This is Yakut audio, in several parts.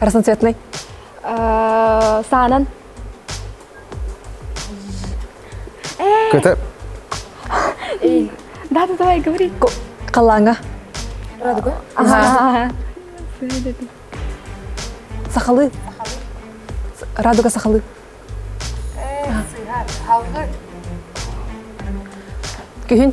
Разноцветный. Саанан. Köte. Да, да, давай, говори. Каланга. Радуга. Ага. Сахалы. Радуга сахалы. Күһүн.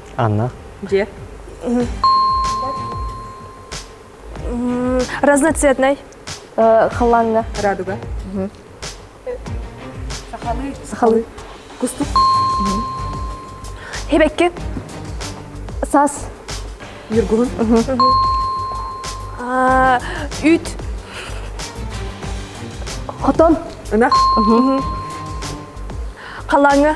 Анна. Дьиэ. Разноцветный. Халанга. Радуга. Сахалыы. Сахалыы. Кустук. Хибекки. Сас. Юргулун. Үүт. Хотон. Ынах. Халанга.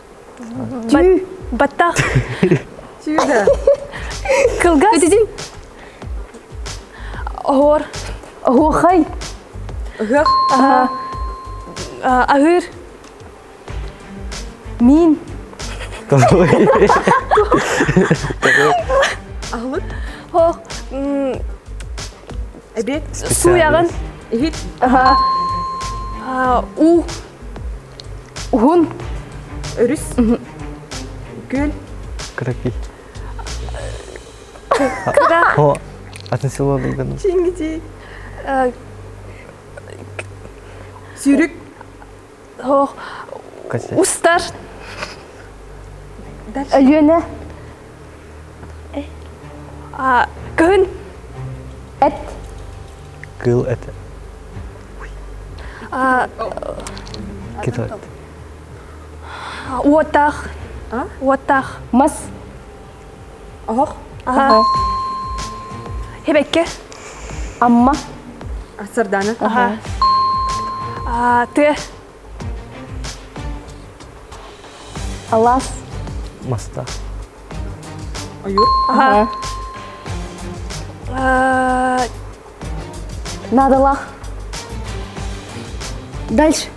Баттах. Сюда. Кылгас. Өтүдүн. Оһор. Оһухай. Ыһык. Аһыр. Мин. Аһылык. Хо. Эбет. Су ягын. Ихит. У. Уһун. Өрүс. Күөл. Кыракый. Куда? О, атын село Луган. Чингити. Сүүрүк. Устар. Өлүөнэ. Кыһын эт. Кыл эт. Китат. Уотах. Уотах. Мас. Оһох. Оһох. Хебекке. Амма. Сардана. Тыа. Алас. Маста. Ойуур. Ага. Э, Надо лах. Дальше.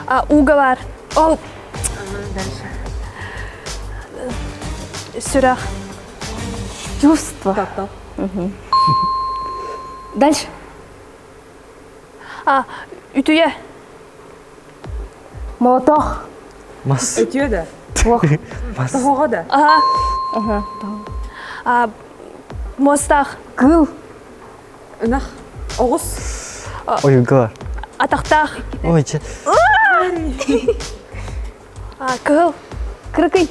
А, уговор. О, дальше. Сюра. Чувство. Дальше. А, үтүйэ. Мотох. Мас. Үтүө да. Ох. Мас. Тоһоҕо да. Аха. Аха. А, мостах. Кыл. Ынах. Оҕус. Ойunкылар. Атахтах. Ой, чэ. А, кыһыл. Кырыкый.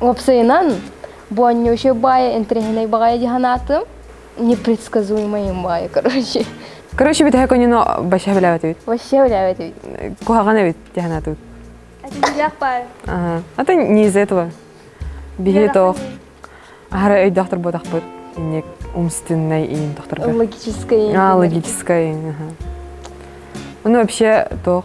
Уопсайынан, буонньуучуй баайа интэриэһинэй баҕайы дии санаатым. Непредсказуемайым баайа, короче. Короче, бүтэһэ конюну вообще билэбит эбит. Вообще билэбит эбит. Куһаҕан эбит дии санаатыбыт. Атыылаах баар. Аха. Ата не из-за этого. Биһи тоох. Ахара өйдөөхтөр буотахпыт. Инник умственный иин тохторбут. Логическая иин. А, логическая иин. Аха. Ну вообще тоох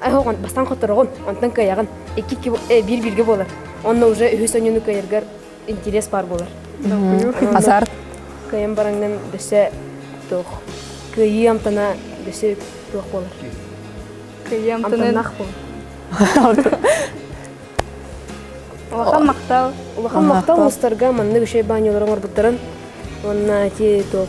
Айхо бастаан хотороҕун, онтон кыайаҕын. Икки биир бииргэ буолар. Онно уже үһүс ойууну кыайаргар интириэс баар буолар. Азарт. Кыайан бараҥынан дөссө туох кыайыы амтана дөссө туох буолар. Кыайыы амтана Улахан махтал. Улахан махтал устарга маннык үшей баньялары оҥорбуттарын. Онна ти туох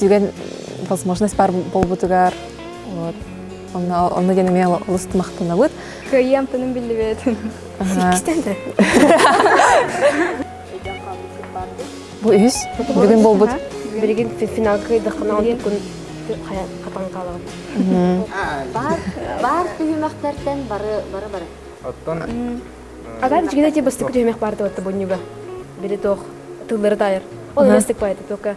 түгэн возможность баар буолбутугар онно онно диэн эмиэ олус махтанабыт кыайыам тыным биллибэт кистен да бу үһүс бүгүн буолбут билигин финал кыйдахына онтукун хатан калабын бар бар түһүмэхтертен бары бары бары оттон ага кичигине те бастык түһүмэх барды отто буннюга били тох тыллары тайыр ол эстик пайты только